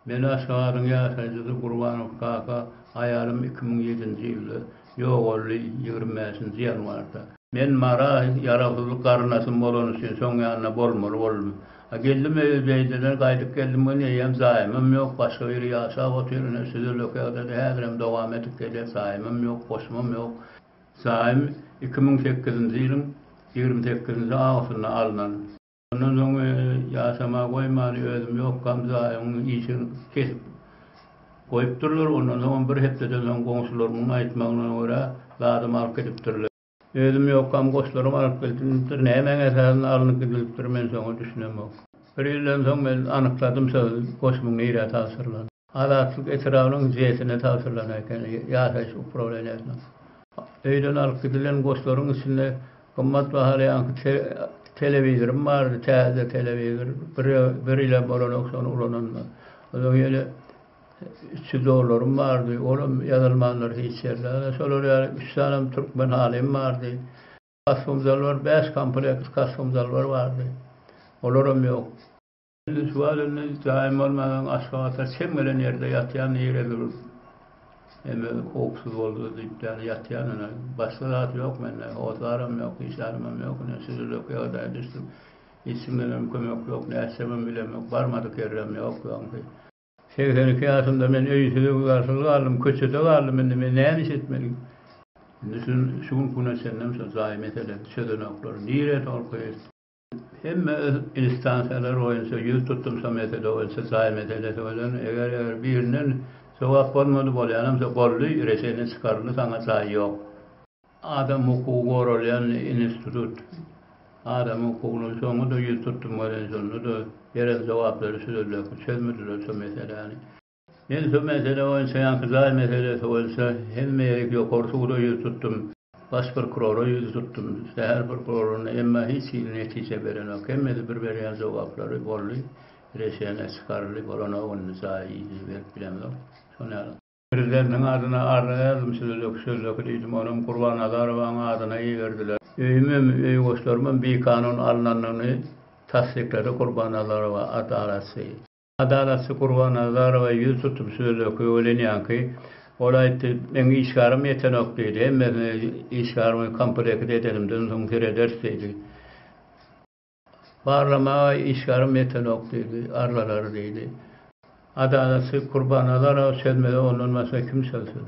Belent şaharyň ýaşaýjysy Gurbanow kaka, Aýalym iki müň ýedinji ýylda ýogaldy, ýigrimi bäşinji ýanwarda. Men Mara ýaragsyzlyk garyndaşym bolany üçin şoň ýanyna bolmaly boldum. A geldim öýe Zeýdeden gaýdyp geldim gün eýýäm jaýymam ýok, başga biri ýaşap otyr, ine şu zülekagdada häzirem dowam edip gelýär, jaýymam ýok, goşumam ýok. Zaým iki müň sekizinji ýylyň ýigrimi sekizinji awgustynda alnan. Ondan soň ýasama goýman özüm ýokam zaýmyň işini kesip goýupdyrlar. Ondan soňam bir hepdeden soň goňşularymyň aýtmagyna görä zadym alyp gidipdirler. Özüm ýokam goşlaram alyp gidilipdir. Nämäň esasynda alnyp gidilipdir men şoňa düşünemok. Bir ýyldan soň men anykladym şol goşumyň nirä tabşyrylan. Azatlyk etrabynyň JES-ine tabşyrylan eken, ýaşaýyş uprawleniýesiniň. Öýden alyp gidilen goşlaryň içinde gymmat bahaly ýaňky telewizorym bardy, täze telewizor, bir bir ýylem bolanok şony ulananyma. Onsoň ýene üç ýüz dollarym bardy, olam ýazylmandyr hiç ýerde. Ana şolar ýaly üç sanem türkmen halym bardy. Kostumzalbar bäş komplekt kostumzalbar bardy. Olaram ýok. Lütfat indi jaýym bolmanam Aşgabada çem gelen ýerde ýatýan nirä gidip. Hemme howpsuz boldy diýip ýaly ýatýan indi. Başga zat ýok mende. Hojaram ýok, hiç adamym ýok. Indi şujulyk ýagdaýa düşdüm. Hiç kimdenem kömek ýok. Nätjegem bilem ýok. Barmadyk ýerem ýok bu aňky. Segsen iki ýaşymda men öýsüz, garsyz galdym. Köçede galdym indi. Men näme iş etmeli? Indi şu şu günki güne çenlem şu jaý meselesini çözenoklar. Nirä tolkuýar? Hemme öz instansiýalary boýunça ýüz tutumsa mesele boýunça jaý meselesi bolan eger eger birinden jogap bolmady bolýanamsa boldy reşeniýe çykaryldy saňa jaý ýok. Adam hukugy goralýan institut adamyň hukugyny şoňa-da ýüz tutum beren şonda-da beren jogaplary şu sözleki çözmediler şu meseläni. Men şu mesele boýunça ýaňky jaý meselesi boýunça hemme ýeri ýokary suda ýüz tutdum, baş prokurora ýüz tutdum, şäher prokuroryna, emma hiç hili netije berenok. Hemmesi bir berýän jogaplary, boldy, reşeniýe çykaryldy, bolanok indi, jaýy ýene berip bilemzok. Şo nälet? Prezidentiň adyna arza berdim sözleki sözleki diýdim, onam Gurbanazarowaň adyna iberdiler. Öýümem, öý goşlarymam bikanun alnanyny tassyklady Gurbanazarowa adalatçy. Adalatsyz Kurbanazarowa ýüz tutup söz öwrenýänki, ol aýtdy, Meň işgärim ýetenok diýdi. Hemmesini işgärimi komplekt edenimden soň serederis diýdi. Barlamaga işgärim ýetenok diýdi, arlalary diýdi. Adalatsyz Kurbanazarowa çözmede ondan başga kim çözsün?